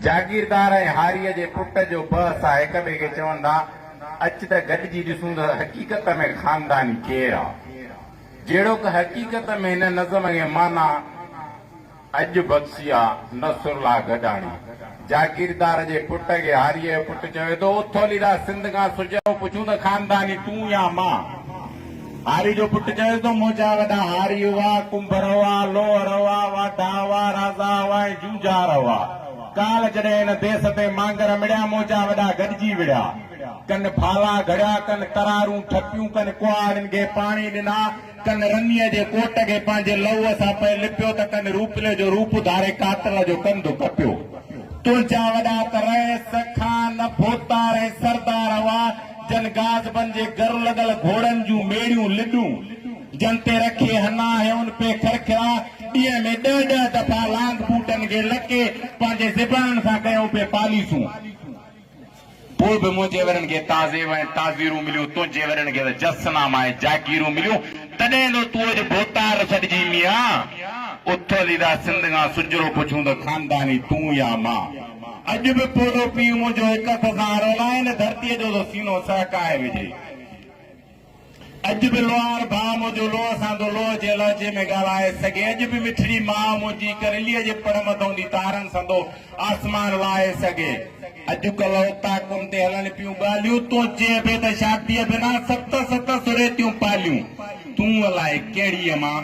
جاگيردار ۽ هاريء جي پٽ جو بحث آ، هڪ ٻئي کي چون ٿا، اچ ته گڏجي ڏسون ته حقيقت ۾ خانداني ڪير آ؟ جهڙوڪ حقيقت ۾ هن نظم کي معنيٰ اڄ بخشي آ نصرالله گڏاڻي. جاگيردار جي پٽ کي هاريء جو پٽ چوي ٿو، اٿوليدا سنڌ کان سجهو پڇون ته خانداني تون يا مان؟ هاري جو پٽ چيو ته منهنجا وڏا هاري هئا، ڪنڀر هئا، لوهر هئا، واڍا هئا، رازا هئا ۽ جونجهار هئا. ڪالهه جڏهن هن ديس تي مانگر مڙيا، منهنجا وڏا گڏجي وڙهيا. ڪن ڦالا گهڙيا، ڪن ترارون ٺپيون، ڪن ڪهاڙين کي پاڻي ڏنا، ڪن رنيء جي ڪوٽ کي پنهنجي لهوء سان پئي لپيو ته ڪن روپلي جو روپ اڌاري قاتل جو ڪنڌ ڪپيو. تنهنجا وڏا ته رئيس، خان، ڀوتار ۽ سردار هئا. جن گازبن جي گر لڳل گهوڙن جون ميڙيون لڏون جن تي رکي هنا هيون پي کرکرا ڏينهن ۾ ڏهه ڏهه دفعا لانگ بوٽن کي لڪي پنهنجي زبانن سان ڪيون پي پاليسون پوء به منهنجي ورن کي تعزيب ۽ تعزيرون مليون تنهنجي ورن کي ته جس ناما ۽ جاگيرون مليون تڏهن ٿو تون اڄ ڀوتار سڏجين ميان اٿل ادا سنڌ کان سجرو پڇون ته خانداني تون يا مان. اڄ به پوڙهو پيء منهنجو هڪ هٿ سان رولائي نه ڌرتيء جو ٿو سينو سهڪائي وجهي. اڄ به لوهار ڀاء منهنجو لوهه سان ٿو لوهه جي لهجي ۾ ڳالهائي سگهي. اڄ به مٺڙي ماء منهنجي ڪرليء جي پڙ مٿئون ٿي تارن سان ٿو آسمان لاهي سگهي. اڄڪلهه اوطاقن تي هلن پيون ڳالهيون، تون چئين پئي ته شاديء بنا ست ست سريتيون پاليون، تون الائي ڪهڙيء مان.